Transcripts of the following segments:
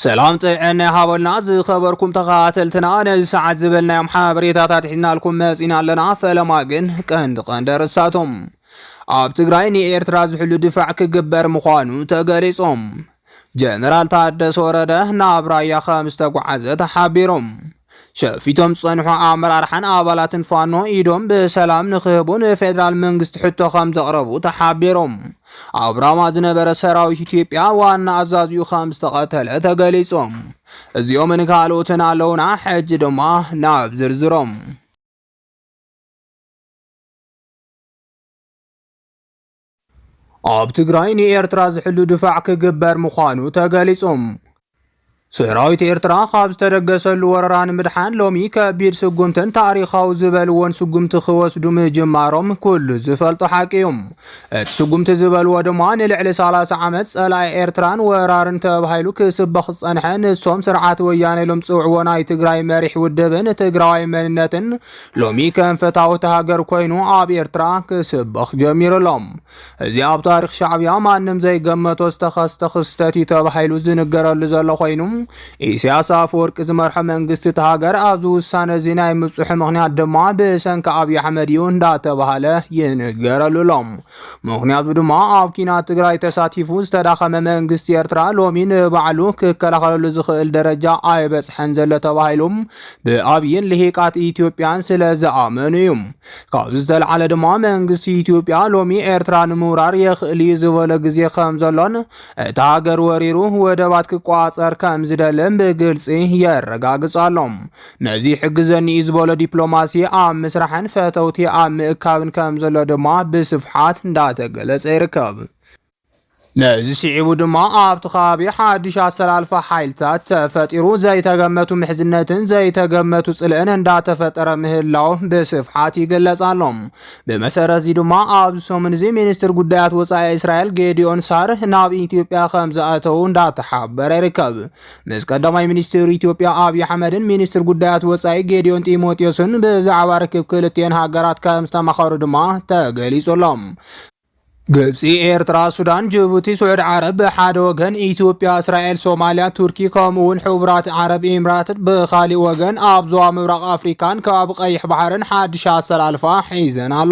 ሰላም ጥዕና ይሃበልና ዝኸበርኩም ተኸታተልትና ነዚ ሰዓት ዝበልናዮም ሓበሬታታት ሒዝናልኩም መጺና ኣለና ፈለማ ግን ቀንዲ ቀንዲ ኣርእስታቶም ኣብ ትግራይ ንኤርትራ ዝሕሉ ድፋዕ ክግበር ምዃኑ ተገሊጾም ጀነራል ታደሰ ወረደ ናብ ራያ ከም ዝተጓዓዘ ተሓቢሮም ሸፊቶም ዝፀንሑ ኣመራርሓን ኣባላትን ፋኖ ኢዶም ብሰላም ንክህቡ ንፌደራል መንግስቲ ሕቶ ከም ዘቕረቡ ተሓቢሮም። ኣብ ራማ ዝነበረ ሰራዊት ኢትዮጵያ ዋና ኣዛዚኡ ከም ዝተቐተለ ተገሊጾም። እዚኦምን ካልኦትን ኣለውና፣ ሕጂ ድማ ናብ ዝርዝሮም። ኣብ ትግራይ ንኤርትራ ዝሕሉ ድፋዕ ክግበር ምዃኑ ተገሊጹ። ሰራዊት ኤርትራ ካብ ዝተደገሰሉ ወረራ ንምድሓን ሎሚ ከቢድ ስጉምትን ታሪኻዊ ዝበልዎን ስጉምቲ ክወስዱ ምጅማሮም ኩሉ ዝፈልጦ ሓቂ እዩ። እቲ ስጉምቲ ዝበልዎ ድማ ንልዕሊ 30 ዓመት ጸላኢ ኤርትራን ወራርን ተባሂሉ ክስበኽ ዝጸንሐ ንሶም ስርዓት ወያነ ኢሎም ዝጽውዕዎ ናይ ትግራይ መሪሕ ውድብን ትግራዋይ መንነትን ሎሚ ከም ፈታውቲ ሃገር ኮይኑ ኣብ ኤርትራ ክስበኽ ጀሚሩ ኣሎ። እዚ ኣብ ታሪኽ ሻዕብያ ማንም ዘይገመቶ ዝተኸስተ ክስተት እዩ ተባሂሉ ዝንገረሉ ዘሎ ኮይኑ ኢሳያስ ኣፈወርቂ ዝመርሖ መንግስቲ እቲ ሃገር ኣብዚ ውሳነ እዚ ናይ ምብጽሑ ምኽንያት ድማ ብሰንኪ ኣብይ ኣሕመድ እዩ እንዳተባሃለ ይንገረሉ ኣሎ። ምኽንያቱ ድማ ኣብ ኲናት ትግራይ ተሳቲፉ ዝተዳኸመ መንግስቲ ኤርትራ ሎሚ ንባዕሉ ክከላኸለሉ ዝኽእል ደረጃ ኣይበጽሐን ዘሎ ተባሂሉ ብኣብይን ልሂቃት ኢትዮጵያን ስለ ዝኣመኑ እዩ። ካብ ዝተልዓለ ድማ መንግስቲ ኢትዮጵያ ሎሚ ኤርትራ ንምውራር የኽእል እዩ ዝበሎ ግዜ ከም ዘሎን እታ ሃገር ወሪሩ ወደባት ክቋጸር ከም ዝደልን ብግልጺ የረጋግጽ ኣሎ። ነዚ ይሕግዘኒ እዩ ዝበሎ ዲፕሎማሲ ኣብ ምስራሕን ፈተውቲ ኣብ ምእካብን ከምዘሎ ድማ ብስፍሓት እንዳተገለፀ ይርከብ። ነዚ ስዒቡ ድማ ኣብቲ ከባቢ ሓዱሽ ኣሰላልፋ ሓይልታት ተፈጢሩ ዘይተገመቱ ምሕዝነትን ዘይተገመቱ ፅልእን እንዳተፈጠረ ምህላው ብስፍሓት ይገለፅ ኣሎ። ብመሰረት እዚ ድማ ኣብዚ ሰሙን እዚ ሚኒስትር ጉዳያት ወፃኢ እስራኤል ጌዲዮን ሳር ናብ ኢትዮጵያ ከምዝኣተው እንዳተሓበረ ይርከብ። ምስ ቀዳማይ ሚኒስትር ኢትዮጵያ ኣብዪ ኣሕመድን ሚኒስትር ጉዳያት ወፃኢ ጌዲዮን ጢሞቴዎስን ብዛዕባ ርክብ ክልቲኤን ሃገራት ከም ዝተማኸሩ ድማ ተገሊጹ ኣሎ። ግብፂ፣ ኤርትራ፣ ሱዳን፣ ጅቡቲ፣ ስዑድ ዓረብ ብሓደ ወገን፣ ኢትዮጵያ፣ እስራኤል፣ ሶማሊያ፣ ቱርኪ ከምኡ እውን ሕቡራት ዓረብ ኢምራት ብኻሊእ ወገን ኣብ ዞባ ምብራቕ ኣፍሪካን ከባቢ ቀይሕ ባሕርን ሓድሽ ኣሰላልፋ ሒዘን ኣሎ።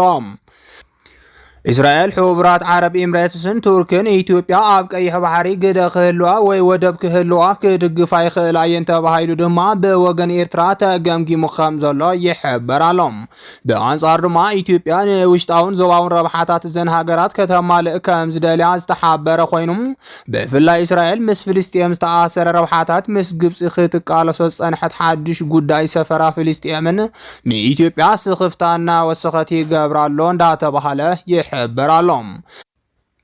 እስራኤል፣ ሕቡራት ዓረብ ኤምሬትስን ቱርክን ኢትዮጵያ ኣብ ቀይሕ ባሕሪ ግደ ክህልዋ ወይ ወደብ ክህልዋ ክድግፋ ይኽእላ እየን ተባሂሉ ድማ ብወገን ኤርትራ ተገምጊሙ ከም ዘሎ ይሕበር ኣሎ። ብኣንጻር ድማ ኢትዮጵያ ንውሽጣውን ዞባውን ረብሓታት እዘን ሃገራት ከተማልእ ከም ዝደልያ ዝተሓበረ ኮይኑ ብፍላይ እስራኤል ምስ ፍልስጤም ዝተኣሰረ ረብሓታት ምስ ግብፂ ክትቃለሶ ዝጸንሐት ሓድሽ ጉዳይ ሰፈራ ፍልስጤምን ንኢትዮጵያ ስኽፍታ እናወሰኸት ይገብራ ኣሎ እንዳተባህለ ይሕበር ኣሎ።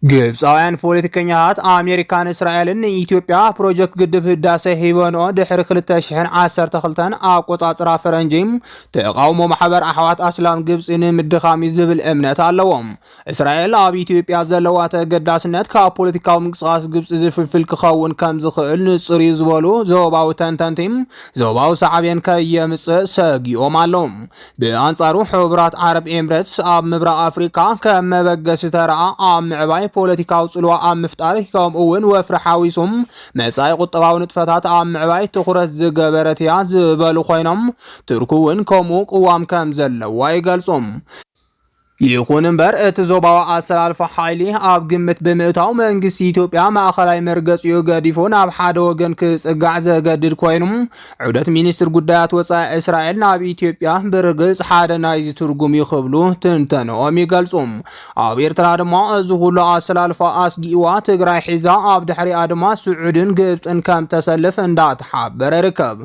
ግብፃውያን ፖለቲከኛታት ኣሜሪካን እስራኤልን ንኢትዮጵያ ፕሮጀክት ግድብ ህዳሰ ሂበንኦ ድሕሪ 2012 ኣቆፃፅራ ፈረንጂ ተቓውሞ ማሕበር ኣሕዋት ኣስላም ግብፂ ንምድኻም እዩ ዝብል እምነት ኣለዎም። እስራኤል ኣብ ኢትዮጵያ ዘለዋ ተገዳስነት ካብ ፖለቲካዊ ምንቅስቓስ ግብፂ ዝፍልፍል ክኸውን ከም ዝኽእል ንፁር እዩ ዝበሉ ዞባዊ ተንተንቲ ዞባዊ ሳዕቤን ከየምፅእ ሰጊኦም ኣለዉ። ብኣንጻሩ ሕቡራት ዓረብ ኤምረትስ ኣብ ምብራቕ ኣፍሪካ ከም መበገሲ ተረኣ ኣብ ምዕባይ ፖለቲካዊ ፅልዋ ኣብ ምፍጣር ከምኡ እውን ወፍሪ ሓዊሱም መፃኢ ቁጠባዊ ንጥፈታት ኣብ ምዕባይ ትኹረት ዝገበረት እያ ዝበሉ ኮይኖም ቱርክ እውን ከምኡ ቅዋም ከም ዘለዋ ይገልፁ። ይኹን እምበር እቲ ዞባዊ ኣሰላልፋ ሓይሊ ኣብ ግምት ብምእታው መንግስቲ ኢትዮጵያ ማእኸላይ መርገፂኡ ገዲፉ ናብ ሓደ ወገን ክፅጋዕ ዘገድድ ኮይኑ ዑደት ሚኒስትር ጉዳያት ወፃኢ እስራኤል ናብ ኢትዮጵያ ብርግፅ ሓደ ናይዚ ትርጉም እዩ ክብሉ ትንተንኦም ይገልፁ። ኣብ ኤርትራ ድማ እዚ ኩሉ ኣሰላልፋ ኣስጊእዋ ትግራይ ሒዛ ኣብ ድሕሪኣ ድማ ስዑድን ግብፅን ከም ተሰልፍ እንዳተሓበረ ይርከብ።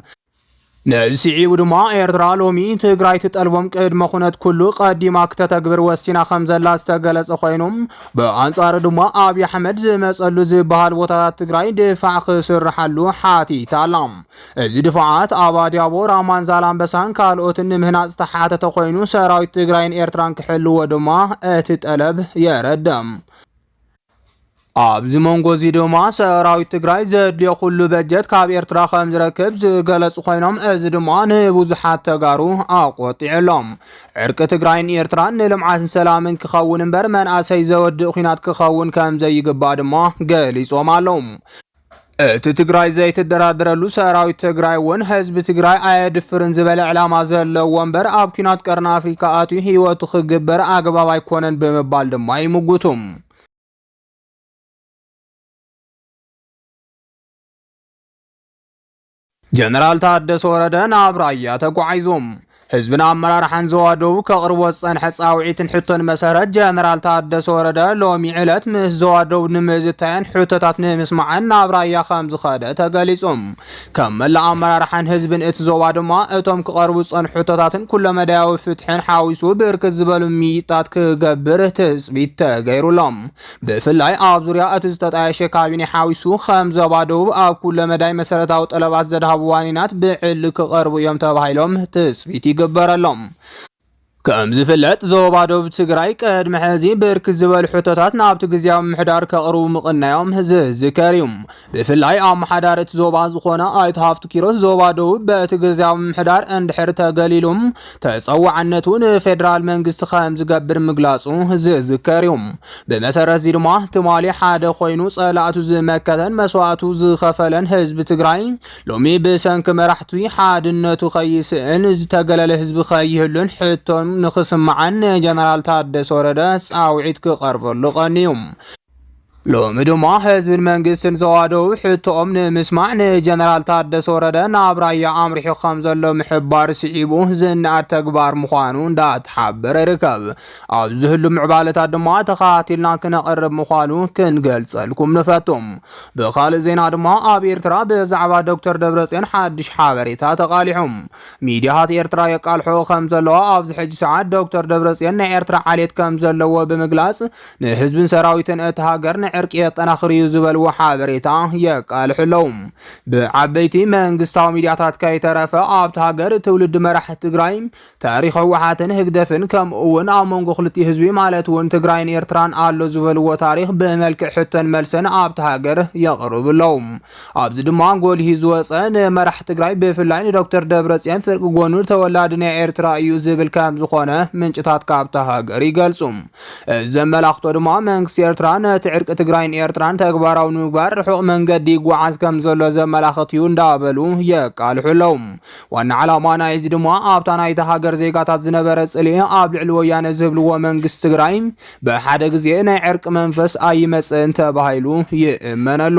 ነዚ ስዒቡ ድማ ኤርትራ ሎሚ ትግራይ ትጠልቦም ቅድመ ኩነት ኩሉ ቀዲማ ክተተግብር ወሲና ከም ዘላ ዝተገለጸ ኮይኑ ብኣንጻሩ ድማ ኣብዪ ኣሕመድ ዝመጸሉ ዝበሃል ቦታታት ትግራይ ድፋዕ ክስርሓሉ ሓቲታ ኣላ። እዚ ድፋዓት ኣብ ኣድያቦ፣ ራማን ዛላምበሳን ካልኦትን ንምህናጽ ዝተሓተተ ኮይኑ ሰራዊት ትግራይን ኤርትራን ክሕልዎ ድማ እቲ ጠለብ የረድእ። ኣብዚ መንጎ እዚ ድማ ሰራዊት ትግራይ ዘድልዮ ኩሉ በጀት ካብ ኤርትራ ከም ዝረክብ ዝገለጹ ኮይኖም እዚ ድማ ንብዙሓት ተጋሩ ኣቆጢዑ ኣሎ። ዕርቂ ትግራይን ኤርትራን ንልምዓትን ሰላምን ክኸውን እምበር መንእሰይ ዘወድእ ኩናት ክኸውን ከም ዘይግባእ ድማ ገሊጾም ኣለዉ። እቲ ትግራይ ዘይትደራደረሉ ሰራዊት ትግራይ እውን ህዝቢ ትግራይ ኣየድፍርን ዝበለ ዕላማ ዘለዎ እምበር ኣብ ኩናት ቀርኒ ኣፍሪካ ኣትዩ ህይወቱ ክግበር ኣግባብ ኣይኮነን ብምባል ድማ ይምጉቱ። ጀነራል ታደሰ ወረደ ናብ ራያ ተጓዒዞም ህዝብን ኣመራርሓን ዞባ ደቡብ ከቕርቦ ዝጸንሐ ጻውዒትን ሕቶን መሰረት ጀነራል ታደሰ ወረደ ሎሚ ዕለት ምስ ዞባ ደቡብ ንምዝታይን ሕቶታት ንምስማዕን ናብ ራያ ከም ዝኸደ ተገሊጹም ከም መላእ ኣመራርሓን ህዝብን እቲ ዞባ ድማ እቶም ክቐርቡ ዝጸንሑ ሕቶታትን ኩለመዳያዊ ፍትሕን ሓዊሱ ብርክት ዝበሉ ምይይጣት ክገብር ትጽቢት ተገይሩሎም ብፍላይ ኣብ ዙርያ እቲ ዝተጣየሸ ካቢኔ ሓዊሱ ከም ዞባ ደቡብ ኣብ ኩለ መዳይ መሰረታዊ ጠለባት ዘድሃቡ ዋኒናት ብዕሊ ክቐርቡ እዮም ተባሂሎም ትፅቢት ይግበረሎም። ከም ዝፍለጥ ዞባ ደቡብ ትግራይ ቅድሚ ሕዚ ብርክት ዝበሉ ሕቶታት ናብቲ ግዝያዊ ምምሕዳር ከቕርቡ ምቕናዮም ዝዝከር እዩ። ብፍላይ ኣመሓዳሪ እቲ ዞባ ዝኾነ ኣይተ ሃፍቱ ኪሮስ ዞባ ደቡብ በቲ ግዝያዊ ምምሕዳር እንድሕር ተገሊሉ ተፀዋዕነቱ ንፌደራል መንግስቲ ከም ዝገብር ምግላፁ ዝዝከር እዩ። ብመሰረት እዚ ድማ ትማሊ ሓደ ኮይኑ ፀላእቱ ዝመከተን መስዋእቱ ዝኸፈለን ህዝቢ ትግራይ ሎሚ ብሰንኪ መራሕቱ ሓድነቱ ከይስእን ዝተገለለ ህዝቢ ከይህሉን ሕቶ ንክስማዕን ንጀነራል ታደሰ ወረደ ፃውዒት ክቐርበሉ ቀንዩ። ሎሚ ድማ ህዝብን መንግስትን ዘዋደው ሕቶኦም ንምስማዕ ንጀነራል ታደሰ ወረደ ናብ ራያ ኣምሪሑ ከም ዘሎ ምሕባር ስዒቡ ዝነኣድ ተግባር ምዃኑ እንዳተሓበረ ይርከብ። ኣብ ዝህሉ ምዕባለታት ድማ ተኸታቲልና ክነቕርብ ምዃኑ ክንገልጸልኩም ንፈቱ። ብኻልእ ዜና ድማ ኣብ ኤርትራ ብዛዕባ ዶክተር ደብረጽዮን ሓድሽ ሓበሬታ ተቓሊሑ። ሚዲያታት ኤርትራ የቃልሖ ከም ዘለዋ ኣብዚ ሕጂ ሰዓት ዶክተር ደብረጽዮን ናይ ኤርትራ ዓሌት ከም ዘለዎ ብምግላጽ ንህዝብን ሰራዊትን እቲ ሃገር ንዕርቂ የጠናኽር እዩ ዝበልዎ ሓበሬታ የቃልሑ ኣለዉ። ብዓበይቲ መንግስታዊ ሚዲያታት ከይተረፈ ኣብቲ ሃገር ትውልዲ መራሕቲ ትግራይ፣ ታሪኽ ህወሓትን ህግደፍን ከምኡ እውን ኣብ መንጎ ክልቲኡ ህዝቢ ማለት እውን ትግራይን ኤርትራን ኣሎ ዝበልዎ ታሪኽ ብመልክዕ ሕቶን መልሰን ኣብቲ ሃገር የቕርቡ ኣለዉ። ኣብዚ ድማ ጎልሂ ዝወፀ ንመራሕቲ ትግራይ ብፍላይ ንዶክተር ደብረፅዮን ፍርቂ ጎኑ ተወላዲ ናይ ኤርትራ እዩ ዝብል ከምዝኾነ ምንጭታት ካብታ ሃገር ይገልፁ። ዘመላኽቶ ድማ መንግስቲ ኤርትራ ነቲ ዕርቂ ትግራይን ኤርትራን ተግባራዊ ንምግባር ርሑቕ መንገዲ ይጓዓዝ ከም ዘሎ ዘመላኽት እዩ እንዳበሉ የቃልሑ ኣለዉ። ዋና ዓላማ ናይ እዚ ድማ ኣብታ ናይታ ሃገር ዜጋታት ዝነበረ ጽልኢ ኣብ ልዕሊ ወያነ ዝህብልዎ መንግስቲ ትግራይ ብሓደ ግዜ ናይ ዕርቂ መንፈስ ኣይመጽእን ተባሂሉ ይእመነሉ።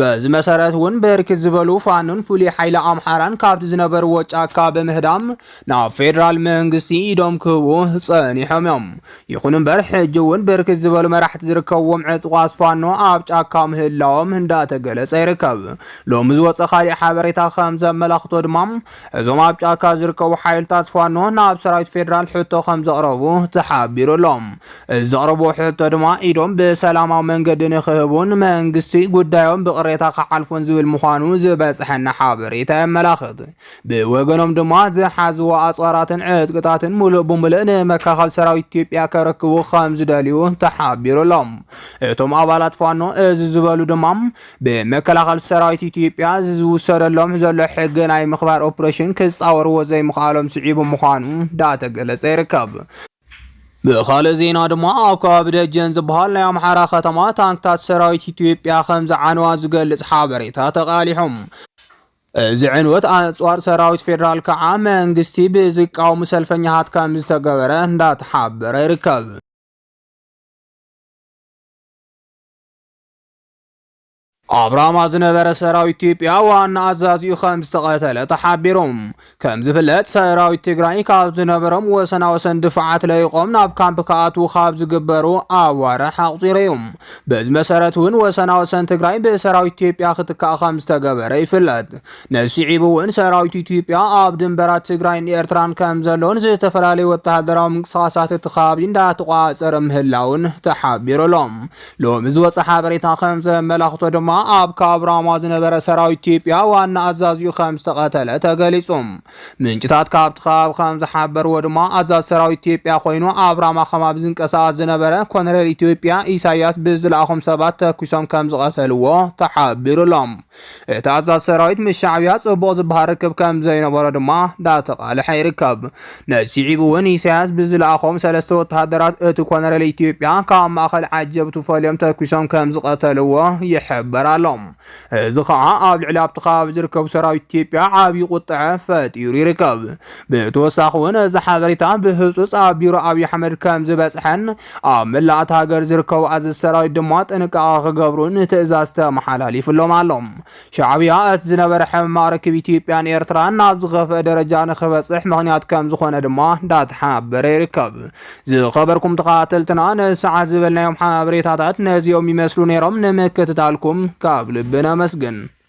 በዚ መሰረት እውን ብርክት ዝበሉ ፋኖን ፍሉይ ሓይሊ ኣምሓራን ካብቲ ዝነበርዎ ጫካ ብምህዳም ናብ ፌዴራል መንግስቲ ኢዶም ክህቡ ጸኒሖም እዮም። ይኹን እምበር ሕጂ እውን ብርክት ዝበሉ መራሕቲ ዝርከብዎም ዕጥቋት ፋኖ ኣብ ጫካ ምህላዎም እንዳተገለጸ ይርከብ። ሎሚ ዝወፀ ካሊእ ሓበሬታ ከም ዘመላኽቶ ድማ እዞም ኣብ ጫካ ዝርከቡ ሓይልታት ፋኖ ናብ ሰራዊት ፌዴራል ሕቶ ከም ዘቕረቡ ተሓቢሩ ኣሎም። ዘቕርብዎ ሕቶ ድማ ኢዶም ብሰላማዊ መንገዲ ንክህቡን መንግስቲ ጉዳዮም ብቕሬታ ክሓልፎን ዝብል ምዃኑ ዝበፅሐና ሓበሬታ የመላኽት። ብወገኖም ድማ ዝሓዝዎ ኣፅዋራትን ዕጥቅታትን ሙሉእ ብሙሉእ ንመከላኸል ሰራዊት ኢትዮጵያ ከረክቡ ከምዝደልዩ ተሓቢሩ ኣሎ። እቶም ኣባላት ፋኖ እዚ ዝበሉ ድማ ብመከላኸል ሰራዊት ኢትዮጵያ ዝውሰደሎም ዘሎ ሕጊ ናይ ምኽባር ኦፕሬሽን ክፃወርዎ ዘይምኽኣሎም ስዒቡ ምዃኑ ዳተገለፀ ይርከብ። ብኻልእ ዜና ድማ ኣብ ከባቢ ደጀን ዝበሃል ናይ ኣምሓራ ከተማ ታንክታት ሰራዊት ኢትዮጵያ ከም ዝዓነዋ ዝገልጽ ሓበሬታ ተቓሊሖም። እዚ ዕንወት ኣጽዋር ሰራዊት ፌዴራል ከዓ መንግስቲ ብዝቃወሙ ሰልፈኛታት ከም ዝተገበረ እንዳተሓበረ ይርከብ። ኣብ ራማ ዝነበረ ሰራዊት ኢትዮጵያ ዋና ኣዛዚኡ ከም ዝተቐተለ ተሓቢሩ። ከም ዝፍለጥ ሰራዊት ትግራይ ካብ ዝነበሮም ወሰና ወሰን ድፋዓት ለይቖም ናብ ካምፕ ክኣትዉ ካብ ዝግበሩ ኣዋርሕ ኣቑፂሩ እዩ። በዚ መሰረት እውን ወሰና ወሰን ትግራይ ብሰራዊት ኢትዮጵያ ክትካእ ከም ዝተገበረ ይፍለጥ። ነዚ ስዒቡ እውን ሰራዊት ኢትዮጵያ ኣብ ድንበራት ትግራይን ኤርትራን ከም ዘሎን ዝተፈላለዩ ወተሃደራዊ ምንቅስቓሳት እቲ ከባቢ እንዳተቖፃፀረ ምህላውን ተሓቢሩ ኣሎ። ሎሚ ዝወፀ ሓበሬታ ከም ዘመላኽቶ ድማ ኣብ ካብ ራማ ዝነበረ ሰራዊት ኢትዮጵያ ዋና ኣዛዚኡ ከም ዝተቐተለ ተገሊፁ። ምንጭታት ካብቲ ከባቢ ከም ዝሓበርዎ ድማ ኣዛዚ ሰራዊት ኢትዮጵያ ኮይኑ ኣብ ራማ ከባቢ ዝንቀሳቐስ ዝነበረ ኮነሬል ኢትዮጵያ ኢሳያስ ብዝለኣኾም ሰባት ተኲሶም ከም ዝቐተልዎ ተሓቢሩ ኣሎ። እቲ ኣዛዚ ሰራዊት ምስ ሻዕብያ ጽቡቕ ዝበሃል ርክብ ከም ዘይነበሮ ድማ እንዳተቓልሐ ይርከብ። ነሲዒቡ እውን ኢሳያስ ብዝለኣኾም ሰለስተ ወተሃደራት እቲ ኮነሬል ኢትዮጵያ ካብ ማእከል ዓጀብቱ ፈልዮም ተኲሶም ከም ዝቐተልዎ ይሕበር ኣሎ። እዚ ኸዓ ኣብ ልዕሊ ኣብቲ ከባቢ ዝርከቡ ሰራዊት ኢትዮጵያ ዓብዪ ቁጠዐ ፈጢሩ ይርከብ። ብተወሳኺ እውን እዚ ሓበሬታ ብህጹጽ ኣብ ቢሮ ኣብዪ ኣሕመድ ከም ዝበጽሐን ኣብ መላእ እታ ሃገር ዝርከቡ ኣዘዝቲ ሰራዊት ድማ ጥንቃቐ ክገብሩ ንትእዛዝ ተመሓላሊፉሎም ኣሎ። ሻዕብያ እቲ ዝነበረ ሕምማቕ ርክብ ኢትዮጵያን ኤርትራን ናብ ዝኸፍአ ደረጃ ንክበጽሕ ምኽንያት ከምዝኾነ ድማ እንዳተሓበረ ይርከብ። ዝኸበርኩም ተኸታተልትና ንሰዓት ዝበልናዮም ሓበሬታታት ነዚኦም ይመስሉ ነይሮም። ንምክትታልኩም ካብ ልቢ ነመስግን።